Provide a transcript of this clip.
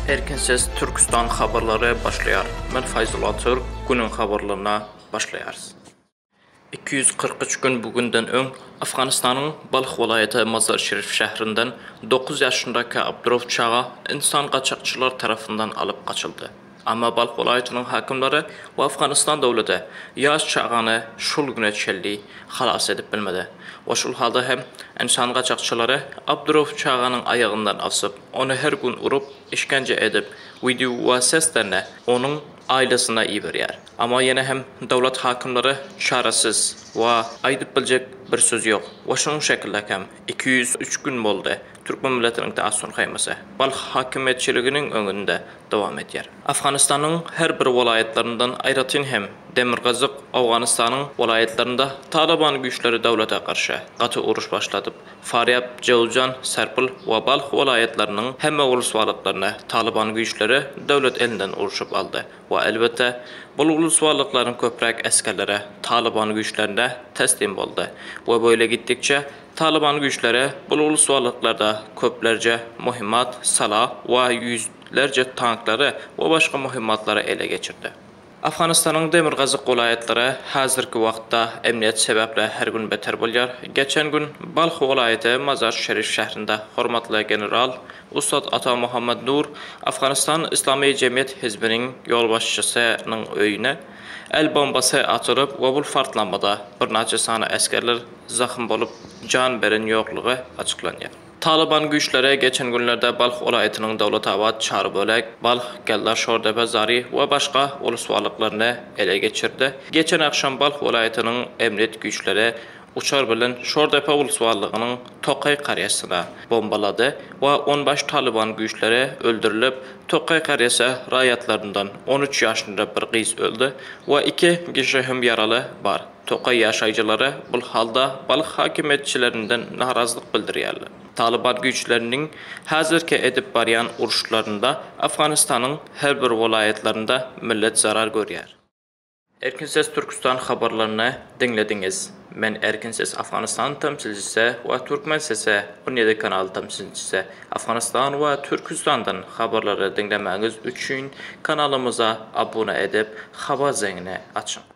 Erkin ses Türküstan habarlary başlaýar. Men Faýzul Atyrk, günüň habarlaryna başlaýarys. Iki ýüz kyrk üç gün bu günden öň Afganystanyň Balh welaýaty Mazar-Şerif şäherinden dokuz ýaşyndaky Abdurow çaga ynsan gaçakçylary tarapyndan alyp gaçyldy. Emma Balh welaýatynyň häkimleri we Afganistan döwleti ýaş çagany şul güne çenli halas edip bilmedi we şul halda hem ynsan gaçakçylary Abdurow çaganyň aýagyndan asyp, ony her gün urup, işgence edip, wideo we seslerini onuň aýlasyna iberýär. Emma ýene hem döwlet häkimleri çaresiz we aýdyp biljek bir söz ýok we şunuň şekilde hem Iki ýüz üç gün boldy, türkmen milletiniň Täsin haýmasy Balh häkimiýetçiliginiň öňünde dowam edýär. Afganystanyň her bir welaýatlaryndan, aýratyn hem Demirgazyk Owganystanyň welaýatlarynda Talyban güýçleri döwlete garşy gaty uruş başladyp, Farýab, Jowzjan, Serpil we Balh welaýatlarynyň hemme uluswalaklaryny Talyban güýçleri döwlet elinden urşup aldy. We elbetde, bul uluswallyklaryň köpräk esgerleri Talyban güýçlerinde teslim boldy. We böyle gitdikçe, Talyban güýçleri bul uluswallyklarda köplerce muhimmat, salah we ýüzlerce tanklary we başga muhimmatlary ele geçirdi. Afganistanyň demirgazyk welaýatlary hazirki wagtda emniýet sebäpli her gün beter bolýar. Geçen gün Balh welaýaty Mazar-Şerif şährinde hormatly general Ussat Ata Mohammad Nur Afganistan Yslamy Jemgyýet Hizbiniň ýolbaşçysy nyň öýüne el bombasy atylyp we bul partlamada birnaçe sany esgerler zahym bolup jan beren ýoklugy açyklanýar. Talyban güýçleri geçen günlerde Balh welaýatynyň Dowlatabat, Çarbölek, Balh, Geldar Şordepe, Zari we başga ulus walaklaryny ele geçirdi. Geçen agşam Balh welaýatynyň emniyet güýçleri Uçar bilen Şordepa ulusbarlygynyň Tokaý Karýasyna bombalady we onbaş Talyban güýçleri öldürilip, Tokaý Karýasa raýatlaryndan on üç ýaşynda bir gyz öldi we iki kişi hem ýaraly bar. Tokaý ýaşaýjylary bu halda balyk hakimiýetçilerinden narazylyk bildirýärler. Talyban güýçleriniň häzirki edip barýan uruşlarynda Afganistanyň her bir welaýatlarynda millet zarar görýär. Erkin ses Türküstan habarlaryny diňlediňiz. Men Erkin ses Afganystan tamsilcisi we Türkmen sesi Onyedy kanal tamsilcisi. Afganystan we Türküstandan habarlary diňlemäňiz üçin kanalymyza abuna edip habar zeňini açyň.